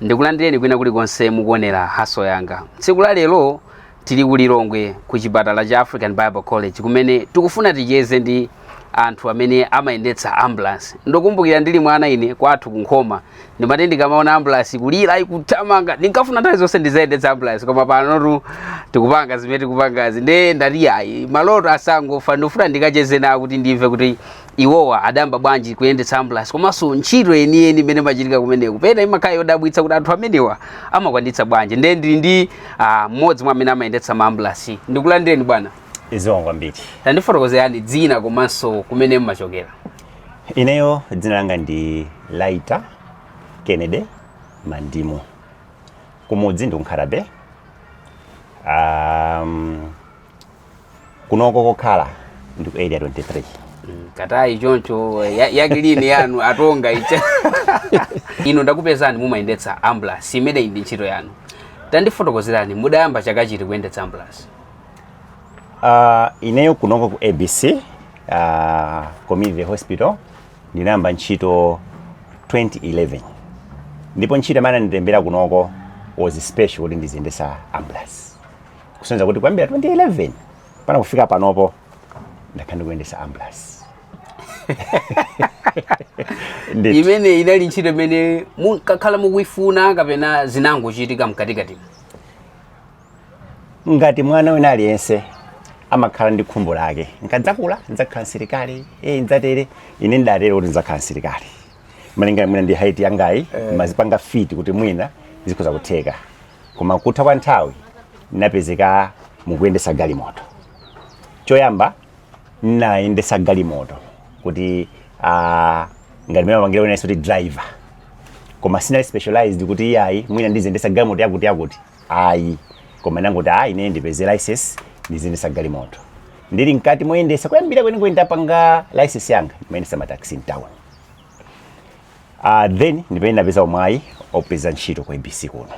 ndikulandireni kwina kulikonse mukuonera haso yanga tsiku la lero tili ku lilongwe ku chipatala cha african bible college kumene tikufuna ticheze ndi anthu amene amayendetsa ambulance ndikukumbukira ndili mwana ine kwathu kunkhoma ndimati ndikamaona ambulance kulira ikuthamanga ndinkafuna nthawi zonse ndizayendetse ambulance koma panotu tikupanga zimene tikupangazi nde ndati ayi maloto asangofa ndifuna ndikacheze nawo kuti ndimve kuti iwowa adayamba bwanji kuyendetsa ambulance komanso ntchito yeniyeni imene imachitika kumeneku pena imakhala yodabwitsa kuti anthu amenewa amakwanitsa bwanji ndiye ndili ndi ah, mmodzi mwa amene amayendetsa ma ambulance ndikulandireni bwana zikomo kwambiri tandifotokozereni dzina komanso kumene mmachokera ineyo dzina langa ndi laita kennedy mandimu kumudzi ndi ku nkhata bay um, kunoko kokhala ndi ku area 23 katani choncho ya- yakilini yanu atonga icha inu ndakupezani mumayendetsa ambulance imeneyi ndi ntchito yanu tandifotokozereni mudayamba chaka chiti kuyendetsa ambulance Ah, ineyo kunoko ku abc ah, community hospital ndinayamba ntchito 2011 ndipo ntchito imene anandilembera kunoko was special kuti ndiziyendesa ambulance kusonyeza kuti kuyambira 2011 mpaka kufika panopo ndakhala ndikuyendesa ambulance Ndithu. imeneyi inali ntchito imene munkakhala mukuifuna kapena zinangochitika mkatikatimo ngati mwana wina aliyense amakhala ndi khumbo lake nkadzakula ndzakhala msilikali e ndzatere ine ndidatere kuti ndzakhala msilikali malingana mwina ndi height yangayi ndimazipanga fit kuti mwina zikhoza kutheka koma kutha kwa nthawi napezeka ndikuyendesa galimoto choyamba nayendesa galimoto kuti uh, ngati mene amapangira ena kuti driver koma sinali specialized kuti iyayi mwina ndiziyendesa galimoto yakuti yakuti ayi koma nangoti ayi ine ndipeze license ndiziyendesa galimoto ndili mkati moyendesa kuyambira kwenikweni ntapanga license yanga ndimayendesa mataxi mtown uh, then ndipomwe napeza umwayi opeza ntchito ku abc kuno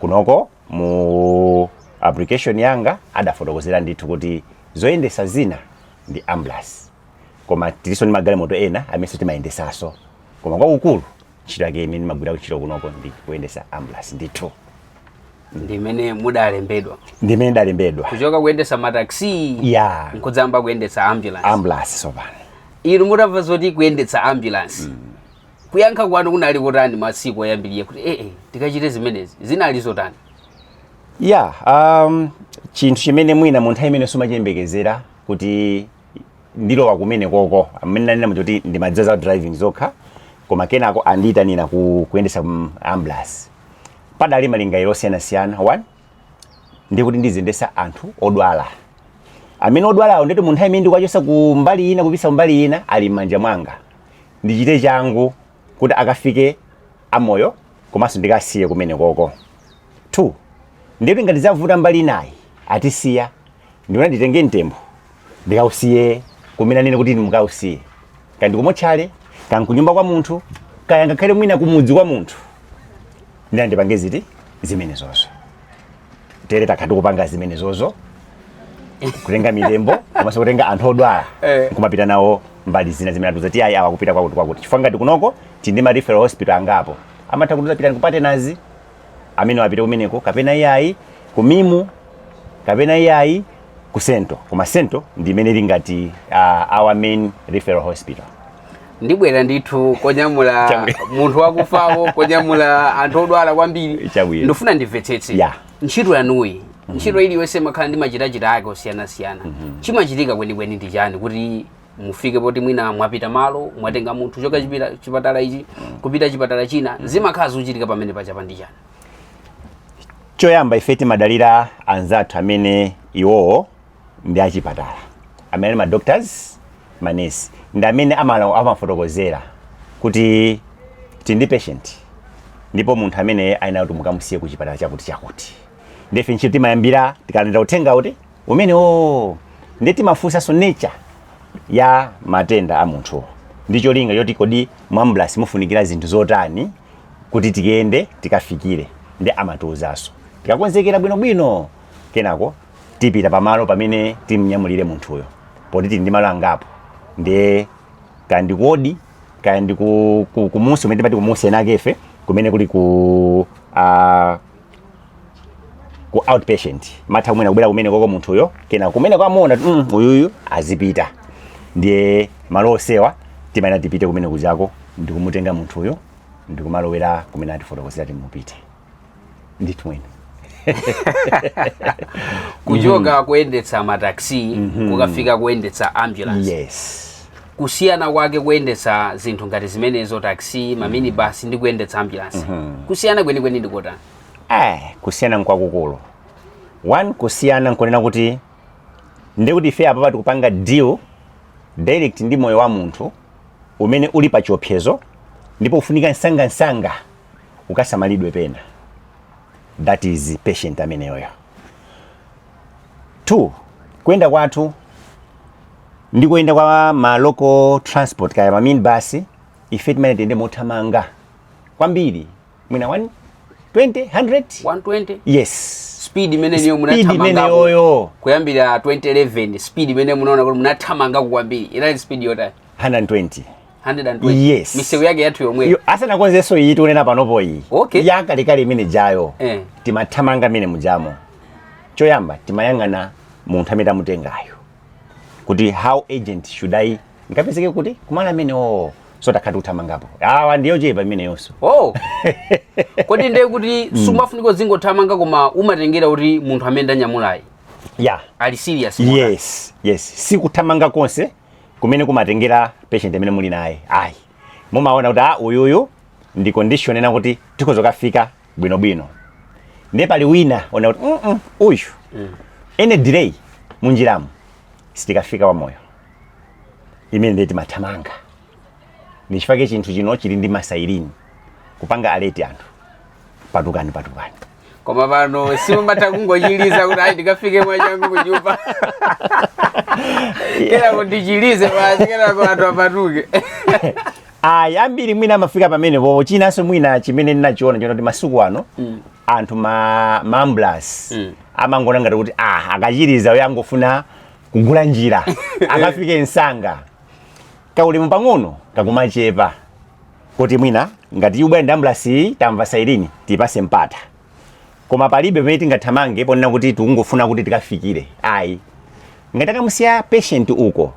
kunoko mu application yanga adafotokozera ndithu kuti zoyendesa zina ndi ambulance koma tiliso ndi magalimoto ena amenenso timayendesaso koma kwakukulu ntchito yake imene ndimagwira ntchito kunoko ndi kuyendesa ambulance ndithu ndi mmene mudalembedwa ndi mmene ndidalembedwa kuchoka kuyendesa mataxi ya nkudzayamba kuyendetsa ambulance ambulance sopano inu mutamva zoti kuyendetsa ambulance kuyankha kwanu kunali kotani masiku oyambirira kuti ee tikachite zimenezi zinali zotani ya um, chinthu chimene mwina mu nthawi imene simumachiyembekezera kuti ndilowa kumene koko mmene ndanena muja kuti ndimadziwa za driving zokha koma kenako anandiitanira ku kuyendesa mm, ambulance padali malingaliro osiyanasiyana one ndi kuti ndiziyendesa anthu odwala amene odwalawo ndi kuti mu nthawi imene ndikuwachosa ku mbali ina kupitsa kumbali ina ali m'manja mwanga ndichite changu kuti akafike amoyo komanso ndikasiye kumene koko two ndikuti ngati zavuta mbali inayi atisiya ndikuti nditenge mtembo ndikausiye kumene anene kuti ndimukausiye kaya ndikumotchale kaya ndi kunyumba kwa munthu kaya ngakhale mwina kumudzi kwa munthu ndiye ndipange zinthu zimenezozo ndiye takha tikupanga zimenezozo kutenga mitembo komanso kutenga anthu odwala Eh. kumapita nawo mbali zina zimene atiuza kuti ayi awa apite kwakuti kwakuti chifukwa ngati kunoko tili ndi ma referral hospital angapo amatha kutiuza pitani kupatenazi amene apite kumeneko kapena iyayi ku mimu kapena iyayi ku sento koma sento ndi imene ili ngati uh, our main referral hospital ndibwera ndithu konyamula Chabwino. munthu wakufawo konyamula anthu odwala kwambiri Chabwino. ndifuna ndimvetsetse Yeah. ntchito yanuyi ntchito iliyonse imakhala ndi machitachita ake osiyanasiyana chimachitika kwenikweni ndi chiyani kuti mufike poti mwina mwapita malo mwatenga munthu kuchoka chipita- chipatala ichi kupita chipatala china zimakhala zochitika pamene pajapa ndi chiyani choyamba ife timadalira anzathu amene iwowo ndi achipatala amene ali madoctors manesi ndi amene amati- amatifotokozera kuti tili ndi patient ndipo munthu amene ayenera kuti mukamusiye ku chipatala chakuti chakuti ndiye ife ntchito timayambira tikalandira uthenga uti umenewo ndiye timafunsanso nature ya matenda a munthuwo ndi cholinga choti kodi mu ambulance mufunikira zinthu zotani kuti tikatenge tikafikire ndiye amatiuzanso tikakonzekera bwinobwino kenako tipita pamalo pamene timnyamulire munthuyo poti tili ndi malo angapo ndiye kaya ndi ku ward kaya ndi ku- ku- kumusi umene timati kumusi enakefe kumene kuli ku ah, ku outpatient amatha mwina kubwera kumene koko munthuyo kenako mmene amuona kuti mm, uyuyu azipita ndiye malo onsewa timayenera tipite kumene kujako ndikumutenga munthuyo ndikumalowera kumene atifotokozera kuti mupite ndithu mmene kuchoka kuyendetsa mataxi kukafika kuyendetsa ambulance yes kusiyana kwake kuyendetsa zinthu ngati zimenezo taxi ma minibus ndi kuyendetsa ambulance kusiyana kwenikweni ndi kotani eh kusiyana nkwakukulu one kusiyana nkunena kuti ndi kuti ife apapa tikupanga deal direct ndi moyo wa munthu umene uli pa chiopsezo ndipo ufunika msangamsanga ukasamalidwe pena that is patient ameneyoyo two kuyenda kwathu ndi kuyenda kwa ma local transport kaya ma minibus ife timayenera tiyende mothamanga kwambiri mwina 1 20 100 120 yes speed imeneyo Speed imene munathamangayoyo kuyambira 2011 speed imene munaona kuti munathamanga kwambiri inali speed yotani 120 120 Yes. misewu yake yathu yomweyo Yo, asanakonzenso iyi tikunena panopo iyi Okay. yakalekale imene jayo Eh. timathamanga imene mujamo choyamba timayang'ana munthu amene tamutengayo kuti how urgent should i ndikapezeke kuti kumalo amenewo oh, sitakhala tikuthamangapo awa ndi yochepa imeneyonso oh. kodi ndiye kuti mm. sumafunika uzingothamanga koma umatengera kuti munthu amene ndanyamulayi yeah. ali serious yes yes si kuthamanga konse kumene kumatengera patient amene muli naye ayi mumaona kuti ah, uyuyu ndi condition yonena kuti tikhoza kukafika bwinobwino ndiye pali wina woona kuti "Mm, mm, uyu any delay munjiramo sitikafika wamoyo imene ndiye timathamanga ndichifake chinthu chino chili ndi ma siren kupanga alert anthu patukani patukani koma pano simumatha kungochiliza kuti ayi ndikafike mwachangu kunyumba kenako ndichilize basi kenako anthu apatuke ayi ambiri mwina amafika pamene popo chinanso mwina chimene ndinachiona nchonena kuti masiku ano anthu ma maambulasi Mm. amangoona ngati kuti ah akuchiliza uyo angofuna kugula njira akafike msanga kaulemu pang'ono kakumachepa kuti mwina ngati ikubwera ndi ambulasi iyi tamva siren tipatse mpata koma palibe pamene tingathamange ponena kuti tikungofuna kuti tikafikire ayi ngati takamusiya patient uko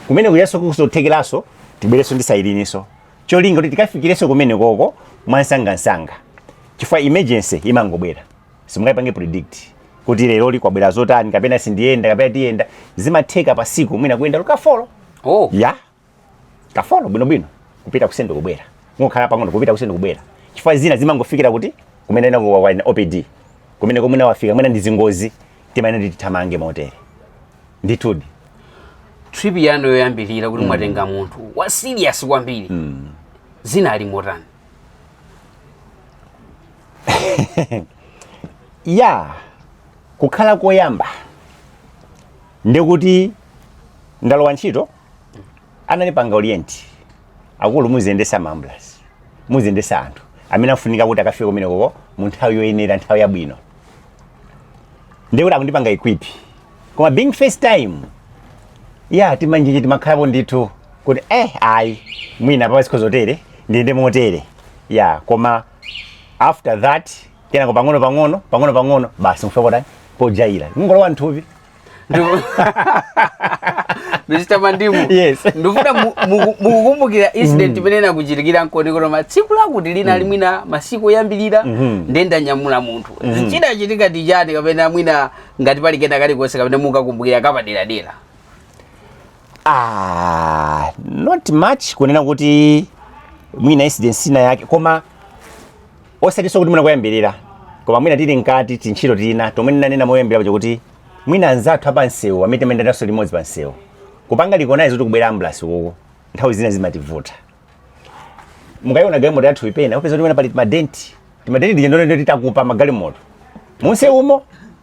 kumene kujanso nkuzothekeranso tibwerenso ndi siren-nso cholinga kuti tikafikirenso kumenekoko mwamsangamsanga chifukwa emergency imangobwera simungayipange predict kuti lero zikubwera zotani kapena sindiyenda kapena tiyenda zimatheka pa tsiku mwina kuyenda ka folo oh. ya yeah. ka folo bwinobwino kupita ku central kubwera kungokhala pang'ono kupita ku central kubwera chifukwa zina zimangofikira kuti kumene ena kuwaona ku OPD kumene komwe nawafika mwina ndi zangozi timayenera tithamange motere ndithudi trip yanu yoyambirira kuti mwatenga munthu wa serious kwambiri zinali motani ya kukhala koyamba ndikuti ndalowa ntchito anandipanga orient akulu muziyendesa ma ambulance muziyendesa anthu amene afunika kuti akafike kumenekoko mu nthawi yoyenera nthawi yabwino ndiye kuti atandipanga equip koma being first time ya timanjenje timakhalapo ndithu kuti eh ayi mwina pa zinthu zotere ndiyende motere ya koma after that kenako pang'ono pang'ono pang'ono pang'ono basi nkufika potani pojaira kungolowa nthupi Ndipo- mr mandimu Yes. ndikufuna mukumbukire incident imene inakuchitikira nkuti koma tsiku lakuti linalake mwina masiku oyambirira Mhm. ndiye ndanyamula munthu chinachitika nchichani kapena mwina ngati pali kena kalikonse kapena mukukumbukira kapaderadera ah, not much kunena kuti mwina incident inayake koma osatinso kuti mwina koyambirira koma mwina tili mkati tintchito tina tomwe ndinanena moyambira paja kuti mwina anzathu apansewu amene timayendanso limodzi pansewu kupanga recognize kuti kukubwera ambulance uku nthawi zina zimativuta mukayiona galimoto yathu pena mupeza kuti mwina pali madenti timadenti tija ndi amene atigunda magalimoto mumsewumo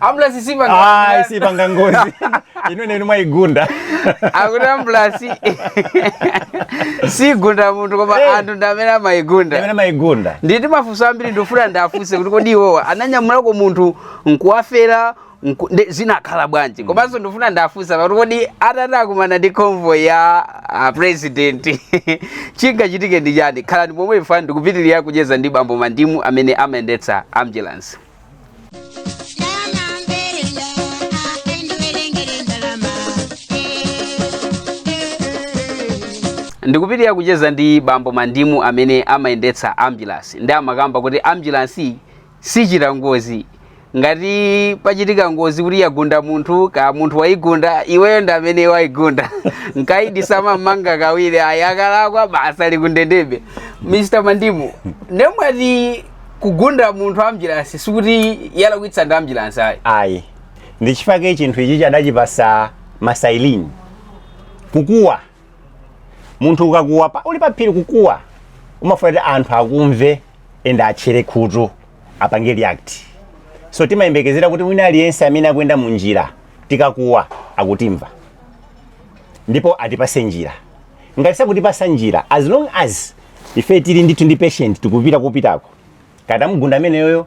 ambulance sipanga ayi sipanga ngozi inu ndinu mwaigunda akuti ambulance sigunda munthu koma Eh. anthu ndi amene amaigunda amene amaigunda ndili ndi mafunso ambiri ndifuna ndiwafunse kuti kodi iwowa ananyamulako munthu nkuwafera nku- ndi- zinakhala bwanji komanso ndifuna ndiwafunse kuti kodi atati akumane ndi convoy ya ah, president chingachitike ndi chani khalani pomwepo ifeyo tikupitiriza kucheza ndi bambo mandimu amene amayendetsa ambulance ndikupitiriza kucheza ndi bambo mandimu amene amayendetsa ambulance ndiye amakamba kuti ambulance sichita ngozi ngati pachitika ngozi kuti yagunda munthu kaya munthu wayigunda iweyo ndi amene wayigunda nkaidi samammanga kawiri ayi akalakwa basi tikuyendabe mr mandimu nde mwati kugunda munthu ambulance sikuti yalakwitsa ndi ambulance ayi ayi ndi nchifukwa chake chinthu ichi adachipasa ma siren kukuwa munthu ukakuwa pa, uli paphiri kukuwa umafuna kuti anthu akumve ende atchere khutu apange react so timayembekezera kuti wina aliyense amene akuyenda mu njira tikakuwa akutimva ndipo atipase njira ngati sakutipasa njira as long as ife tili ndithu ndi patient tikupita kupitako kaya tamugunda ameneyoyo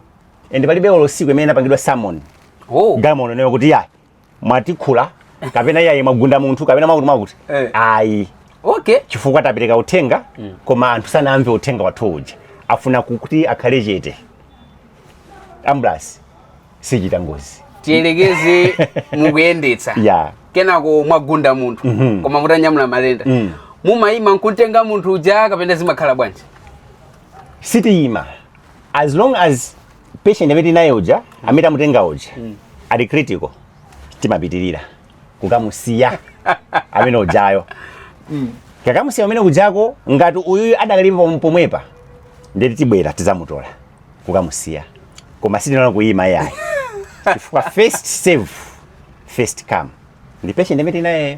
and palibe olo tsiku limene inapangidwa summon oh galimoto nayo kuti yayi mwatikhula kapena yayi mwagunda munthu kapena mwakuti mwakuti Eh. ayi okay chifukwa tapereka uthenga koma anthu sanamve uthenga wathu uja wofuna kuti akhale chete ambulance sichita ngozi tiyerekeze mukuyendetsa ya kenako mwagunda munthu Mhm. koma mutanyamula matenda Mm. mumayima nkumutenga munthu uja kapena zimakhala bwanji sitiyima as long as patient amene tinaye uja amene tamutenga uja ali critical timapitirira kukamusiya amene ujayo kukamusiya kumene kujako ngati uyuyu adakalipo pom- pomwepa nde kuti tibwera tizamutola kukamusiya koma sitinaona kuyima iyayi chifukwa first serve first come ndi patient amene tinayeyo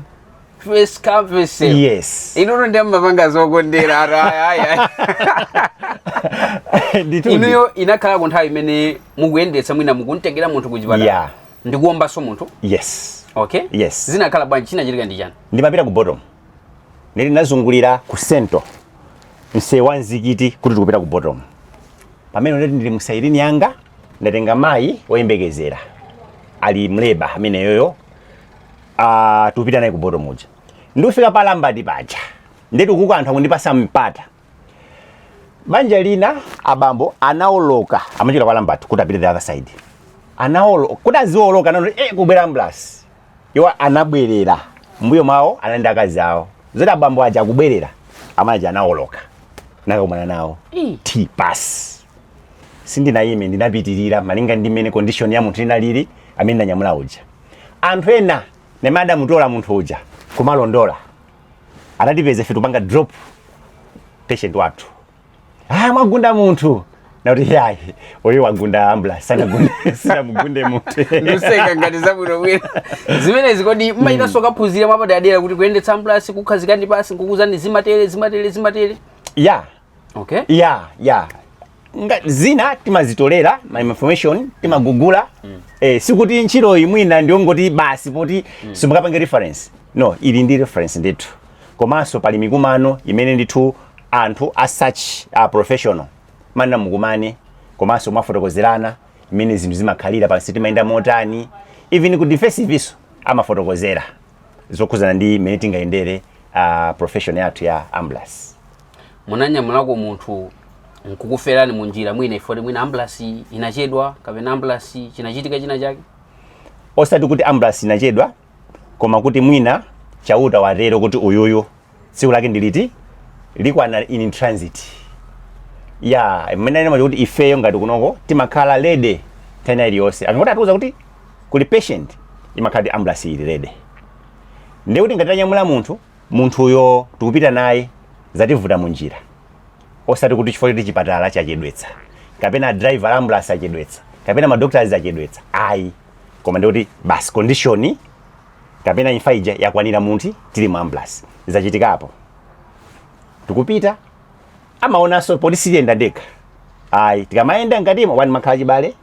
First come, first serve. yes inunso ndiye mmapanga zokondera ara aya aya nditundi inuyo inakhalako nthawi imene mukuyendetsa mwina mukumtengera munthu ku chipatala yeah ndikuombanso munthu yes okay yes zinakhala bwanji chinachitika ndi chani ndimapita ku bottom nili nazungulira ku sento mseu wa mzikiti kuti tikupita ku bottom pamene nde kuti ndili musairini yanga ndatenga mayi woyembekezera ali mu labour ameneyoyo uh, tikupita naye ku bottom uja ndikufika pa Lambat paja nde kuti kuno anthu akundipasa mpata banja lina abambo anaoloka amachoka kwa Lambat kuti apite the other side anawoloka kuti azioloka ataona kuti eh, kukubwera ambulance iwo anabwerera mbuyo mwawo anali ndi akazi awo zoti abambo aja akubwerera amayi anaoloka nakakumana nawo thi pansi sindinayime ndinapitirira malinga ndi mmene condition ya munthu inalili amene ndanyamula uja anthu ena nde amene adamutola munthu uja kumatilondola anatipeza ife tikupanga drop patient wathu ah mwagunda munthu nakuti yayi uyu wagunda ambulance sanagunde sinamugunde munthu ndikuseka ngati zabwino bwino zimenezi kodi mmachitanso kukaphunzira mwapadera kuti kuyendetsa ambulasi kukukhazikani pansi nkukuuzani zimatere zimatere zimatere ya okay ya ya Nga- zina timazitolera ma information timagugula eh, sikuti ntchitoyi mwina ndiyongoti basi poti simungapange reference no ili ndi reference ndithu komanso pali mikumano imene ndithu anthu a such a profession amanena mukumane komanso mwafotokozerana mmene zinthu zimakhalira pansi timayenda motani even ku defensive nso amafotokozera zokhudzana ndi mmene tingayendere uh, profession yathu ya ambulance munanyamulako munthu nkukuferani mu njira mwina effect mwina ambulasi inachedwa kapena ambulasi chinachitika china chake osati kuti ambulasi inachedwa koma kuti mwina chauta watero kuti uyuyu tsiku lake ndiliti likwana in transit ya mmene anena chifukwa choti ifeyo ngati kunoko timakhala ready nthawi iliyonse akangoti atiuza kuti kuli patient imakhala kuti ambulasi ili ready ndiye kuti ngati tanyamula munthu munthuyo tikupita naye zativuta munjira osati kuti chifukwa choti chipatala chachedwetsa kapena driver ambulance achedwetsa kapena madoctors achedwetsa ayi koma ndikuti basi condition kapena imfa ija yakwanira munthu tili mu ambulance zachitikapo tikupita amaonanso poti sitiyenda ndekha ayi tikamayenda ngatimo one mumakhala achibale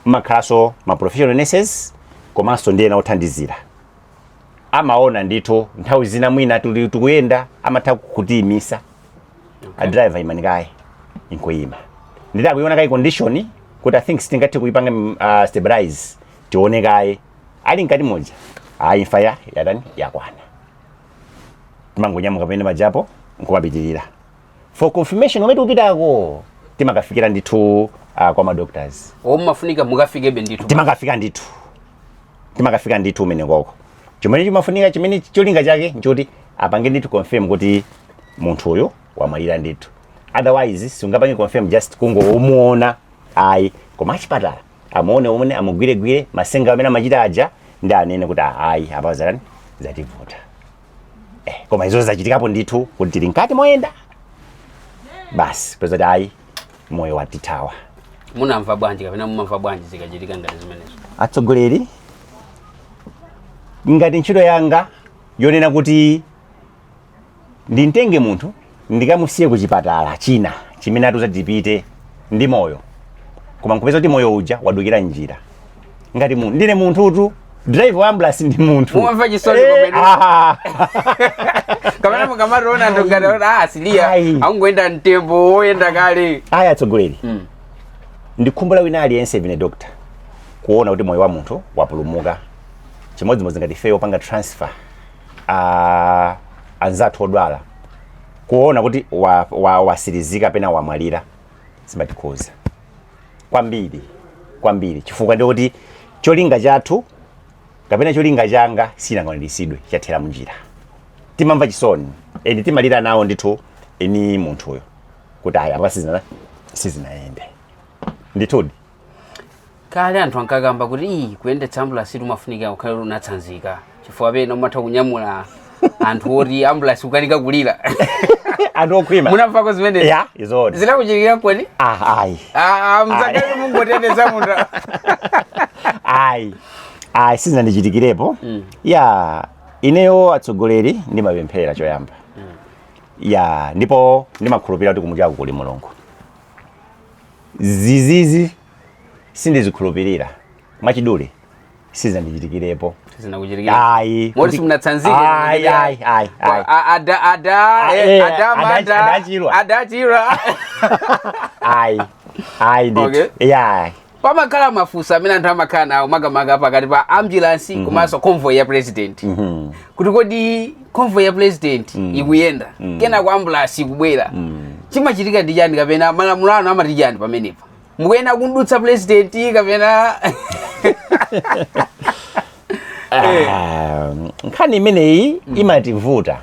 mumakhalanso ma professional nurses komanso ndi ena othandizira amaona ndithu nthawi zina mwina tuli tikuyenda amatha kutiyimisa a driver imani kaye nkuyima nditi akuyiona kaye condition kuti i think sitingathe kuipanga mm, uh, stabilize tione kaye ali mkati moja ayi imfa ya yatani yakwana timangonyamuka pamene pajapo nkumapitilira for confirmation komwe tikupitako timakafikira ndithu uh, kwa madoctors o mumafunika mukafikebe ndithu timakafika ndithu timakafika ndithu komweko chimene chimafunika chimene cholinga chake nchoti apange ndithu confirm kuti munthu uyu wamwalira ndithu otherwise sungapange confirm just kungomuona ayi koma achipatala amuone mmene amugwiregwire masenga amene amachita aja ndi anene kuti ayi apa zatani zativuta eh, koma izozo zachitikapo ndithu kuti tili mkati moyenda basi kupeza kuti ayi moyo watithawa munamva bwanji kapena mumamva bwanji zikachitika ngati zimenezo atsogoleri ngati ntchito yanga yonena kuti ndimtenge munthu ndikamusiye ku chipatala china chimene atiuza tipite ndi moyo koma nkupeza kuti moyo uja wadukira m'njira ngati munthu ndine munthutu driver wa ambulance ndi munthu Mumva chisoni Eh, zoonadi. ah. kapena mukamationa ndikutaona ah siliya Ayi. akungoyenda mtembo woyenda kale ayi atsogoleri Mm. ndi khumbo la wina aliyense pena doctor kuona kuti moyo wa munthu wapulumuka chimodzimodzi ngati ifeyo popanga transfer a anzathu odwala kuona kuti wa- wa- watsirizika pena wamwalira zimatikhuza kwambiri kwambiri chifukwa ndikuti cholinga chathu kapena cholinga changa sichinakwaniritsidwe chathera munjira timamva chisoni and timalira nawo ndithu ndi munthuyo kuti ayi apa sizina sizinayende ndithudi kale anthu ankakamba kuti iyi kuyendetsa ambulasi zimafunika ukhale oti unatsanzika chifukwa pena umatha kunyamula anthu oti ambulasi kukanika kulira anthu okhwima munamvako zimenezi ya izo zinakuchitikira kodi ah ayi Ah, mzakali mukuteteza munthu ayi ayi sizinandichitikirepo Mm. ya ineyo atsogoleri ndimapemphera choyamba ya ndipo ndimakhulupirira kuti kumwambaku kuli mulungu zimenezi sindizikhulupirira mwachidule sizinandichitikirepo sizinakuchitikira ayi moti simunatsanzike ayi ayi ayi ayi A- ada ada Ah, eh, eh, ada ada- manda adachirwa. adachirwa ayi ayi ndithu Okay. yeah pamakhala mafunso amene anthu amakhala nawo makamaka pakati pa ambulance komanso convoy ya president kuti kodi convoy ya president ikuyenda kenako ambulasi ikubwera chimachitika ndi chani kapena malamulo anu amati chani pamenepa mukuyenera kumdutsa president kapena Ah, nkhani imeneyi imativuta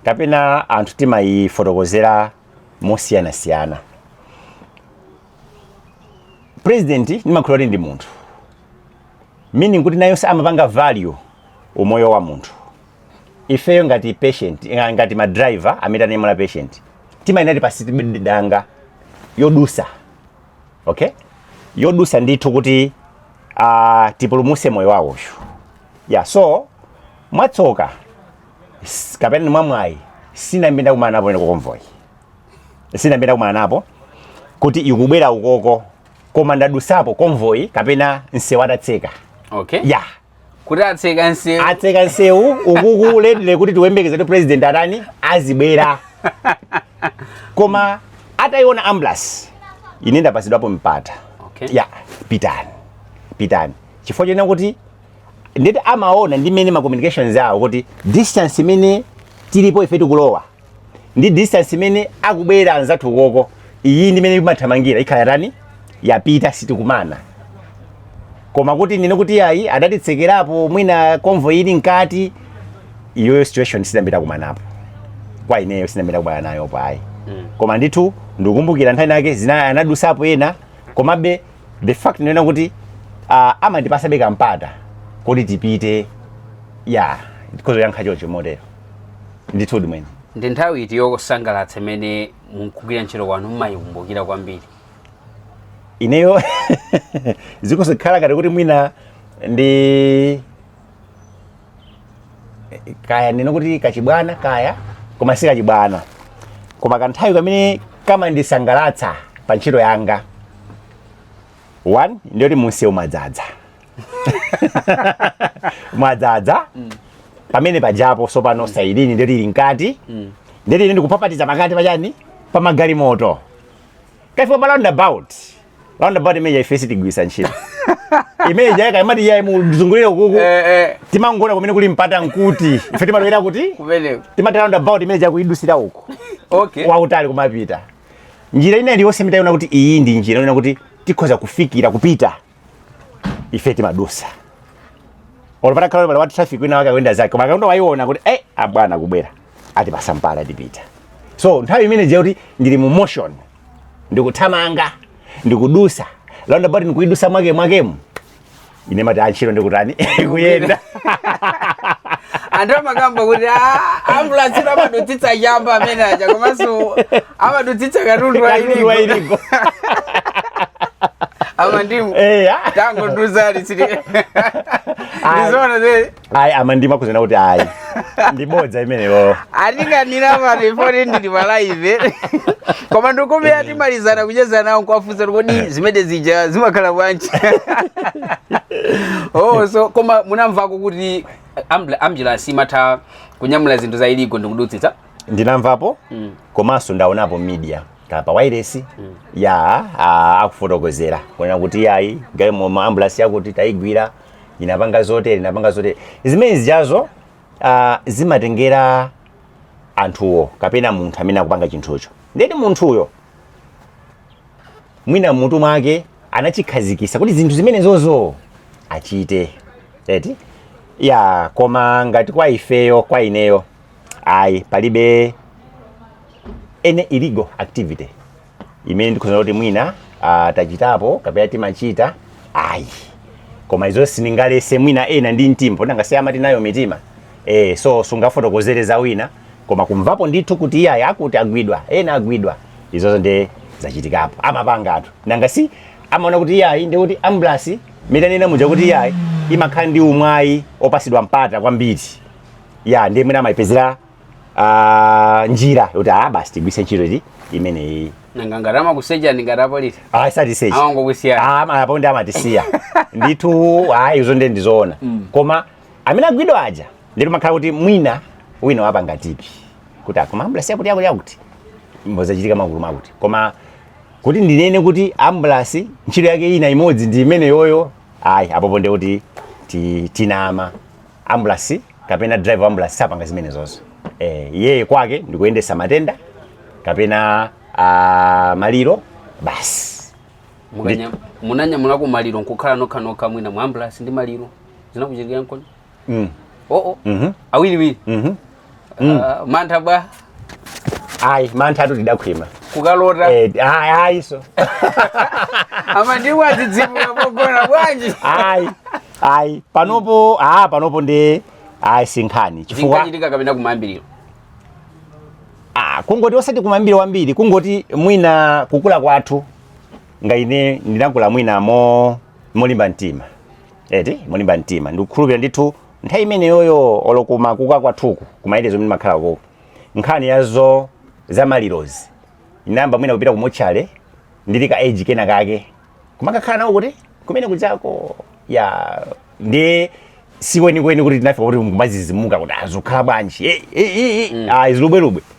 kapena anthu timayifotokozera mosiyanasiyana president ndimakhulupirira kuti ndi munthu meaning kuti nayonse amapanga value umoyo wa munthu ifeyo ngati patient eh, ngati ma driver amene tanyamula patient timayenera tipatsidwe danga lodusa okay lodusa ndithu kuti uh, tipulumuse moyo wawo uyu yeah so mwatsoka s- kapena mwamwayi sindinayambe ndakumanapo ine ku convoy sindinayambe ndakumanapo kuti ikubwera ukoko koma ndadusapo convoy kapena nsewu atatseka okay ya kuti atseka nsewu atseka nsewu ukuku ready kuti tiyembekeze kuti president atani azibwera koma atayiona ambulance ine ndapasidwapo mpata okay. ya pitani pitani chifukwa chonena kuti ndithu amaona ndi mmene ma communications awo kuti distance imene tilipo ife tikulowa ndi distance imene akubwera anzathu ukoko iyi ndi mmene imathamangira ikhala itatani yapita sitikumana koma kuti ndinene kuti ayi adatitsekerapo mwina convoy ili mkati iyoyo situation sindinayambe ndakumanapo kwa ineyo sindinayambe ndakumana nayopo ayi koma ndithu ndikumbukira nthawi inayake zina anadusapo ena komabe the fact ndi yonena kuti uh, amandipasabe kampata kuti tipite ya ndikhoza kuyankha choncho motero ndithudi mwene ndi nthawi iti yosangalatsa imene mukugwira ntchito kwanu mumayikumbukira kwambiri ineyo zikuzikhala ngati kuti mwina ndi kaya ndinene kuti kachibwana kaya koma si kachibwana koma kanthawi kamene kamandisangalatsa pa ntchito yanga one ndiyoti mumsewu mwadzadza mwadzadza pamene pajapo sopano sailini ndiye ili mkati ndiye ndili ndikupapatiza pakati pachani pa magalimoto ukafika pa roundabout roundabout imene ija ife sitigwiritsa ntchito imene ija yakuti imati yayi muzungulire ukuko Eh, eh, timangona kumene kuli mpata nkuti ife timalowera kuti kumeneko. timati roundabout imene ija kuidusira uku Okay. wautali kumapita njira ina iliyonse imene taiona kuti iyi ndi njira ina kuti tikhoza kufikira kupita ife timadusa olo patakhala pala wa traffic wina wake akuyenda zake koma akangoyiona kuti eh abwana akubwera atipasa mpata tipita so nthawi imene ija yakuti ndili mu motion ndikuthamanga ndikudusa roundabout ndikuidusa mwake mwakemu ine ndimati ntchito ikutani kuyenda anthu amakamba kuti "Ah, ambulansi ija amadutsitsa chamba amene aja komanso amadutsitsa katundu katundu wa illegal amandimu eh ah. tangotiuzani Ayi. ndizoona ayi amandimu akunena kuti ayi ndi bodza limenelo atikanira mwina poti tili pa live koma ndi kumbali timalizana kucheza nawo nkuwafunsa kodi zimene zija zimakhala bwanji oh so koma munamvako kuti ambulansi imatha kunyamula zinthu za illegal ndikudutsitsa ndinamvapo Mm. komanso ndaonapo pa media kaya pa wireless ya a- akufotokozera kunena kuti yayi galimoto ya ambulance yakuti tayigwira inapanga zotere inapanga zotere zimene zijazo ah, zimatengera anthuwo kapena munthu amene akupanga chinthucho ndeti munthuyo mwina m'mutu mwake anachikhazikisa kuti zinthu zimenezozo achite eti ya koma ngati kwa ifeyo kwa ineyo ayi palibe any illegal activity imene ndikhoza kuti mwina ah, tachitapo kapena timachita ayi koma izo sindingaletse mwina ena ndi mtima poti ngati amati nayo mitima eh, so sungafotokozere za wina koma kumvapo ndithu kuti iye akuti agwidwa ena agwidwa izozo nde zachitikapo amapanga anthu nanga si amaona kuti iyayi ndikudutsa kuti ambulansi mmene ndanena muja kuti iyayi imakhala ndi umwayi opasidwa mpata kwambiri ya ndi imene amayipezera ah, njira yoti ah basi tigwiritse ntchito iti imeneyi nanga ngati amakusecha ndi ngati apolisi ah satisechi amangokusiyana Ah, ama- apo ndi amatisiya ndithu ayi izo ndi ndizoona koma amene agwidwa aja ndithu makhala kuti mwina wina wapanga tipi kuti akuma ambulasi yakuti yakuti yakuti mmozachitika magulu makuti koma kuti ndinene kuti ambulasi ntchito yake ina imodzi ndi imeneyoyo ayi apopo ndi kuti ti- tinama ambulasi kapena driver wa ambulasi sapanga zimenezozo eh, yeye kwake ndikuyendesa matenda kapena ah, maliro basi Munanya- munanyamulako maliro nkukhala nokhanokha mwina mu ambulasi ndi maliro zinakuchitikirani nkoni mm. oo Mhm. awiriwiri Mhm. Ah, mantha bwa ayi mantha tu tidakhwima kukalota Eh, ayi ayi so ama ndiwo azidzimuka pogona bwanji ayi ayi panopo ah panopo ndi ayi sinkhani chifukwa zinkachitika kapena kumayambiriro ah kungoti osati kumayambiriro kwambiri kungoti mwina kukula kwathu ngati ine ndinakula mwina mo molimba mtima eti molimba mtima ndikukhulupirira ndithu nthawi imeneyoyo olo kumakuka kwathuku kumayende zomwe ndimakhala koko nkhani ya zo za malirozi inayamba mwina kupita ku motchale ndili ka age kena kake kumakakhala nawo kuti kumene kujako ya ndi sikwenikweni kuti tinafika kuti kumadzidzimuka kuti zikhala bwanji Eh, eh, eh, eh. ayi zilubwelubwe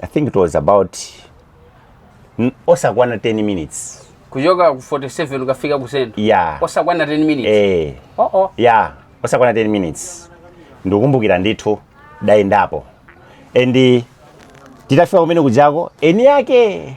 i think it was about mm, osakwana 10 minutes kuchoka ku 47 kukafika ku central yeah osakwana 10 minutes eh oh oh ya osakwana 10 minutes ndikukumbukira ndithu ndayendapo and titafika kumene kujako eni yake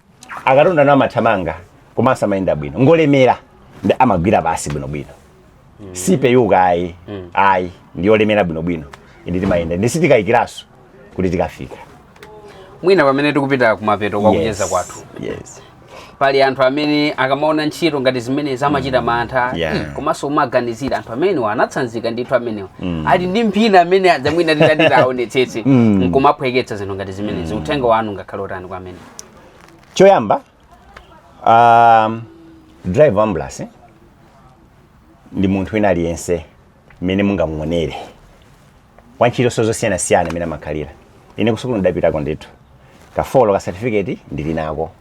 akatonda no amathamanga komanso amayenda bwino ngolemera ndi imagwira pansi bwinobwino sipepuka ayi ayi ndiyolemera bwinobwino inde timayenda ndi sitikayikiraso kuti tikafika mwina pamene tikupita kumapeto kwa kucheza kwathu yes. pali anthu amene akamaona ntchito ngati zimenezi amachita mantha Yeah. "Ih, komanso umaganizira anthu amenewa ana tsanzika ndithu amenewa ali ndi mphini amene adzamwina titati taonetsetse nkumaphweketsa zinthu ngati zimenezi uthenga wanu ungakhale otani kwa amenewa choyamba um, driver wa ambulance ndi munthu wina aliyense mmene mungamuonere wantchito so zosiyanasiyana imene amakhalira ine kusukulu ndidapitako ndithu ka folo ka certificate ndili nako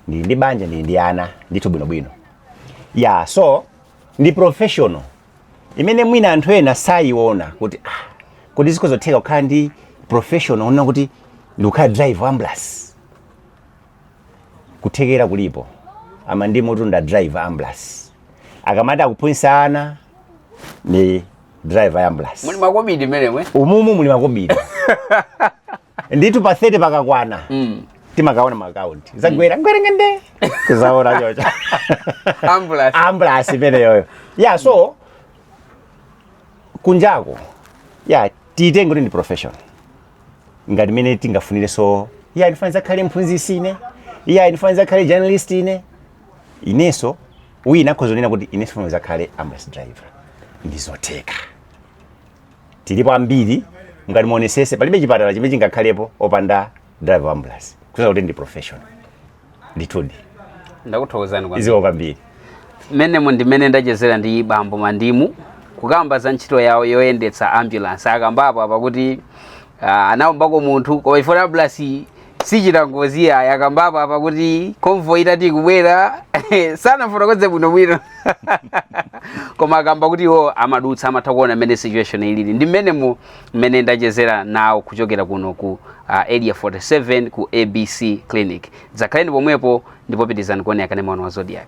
ndili ndi banja ndili ndi ana ndithu bwinobwino ya so ndi professional imene mwina anthu ena sayiona kuti ah, kuti zikhoza kutheka kukhala ndi professional kunena kuti ndikukhala driver wa ambulance kuthekera kulipo a Mandimu tinda drive ambulance akamati akuphunzitsa ana ndi drive ambulance muli makobiri mmenemwe umumu muli makobiri nditu pa 30 pakakwana Mm. timakaona maakaunti zagwera ngwerengende tizaona chocho Ambulance. ambulance imeneyoyo ya so kunjako ya tiitenge kuti ndi profession ngati mmene tingafunireso ya ndifuna nzakhale mphunzisi ine ya ndifuna nzakhale journalist ine inenso wina akhoza kunena kuti inenso nfuna nzakhale ambulance driver ndizotheka tilipo ambiri ngati muonesese palibe chipatala chimene chingakhalepo opanda driver wa ambulance kusonyeza kuti ndi professional ndithudi ndakuthokozani kwambiri zikomo kwambiri mmenemo ndimene ndachezera ndi bambo mandimu kukamba za ntchito yawo yoyendetsa ambulance akambapo apa kuti ah, anaombako munthu koma chifukwa ambulance sichita ngozi ayi akambapo apa kuti convoy itati ikubwera sanafotokoze bwinobwino koma akamba kuti iwo amadutsa amatha kuona mmene situation ilili ndi mmenemo mmene ndachezera nawo kuchokera kuno ku uh, area 47 ku abc clinic zakhalani pomwepo ndipo pitirizani kuonera kanema wanu wa Zodiak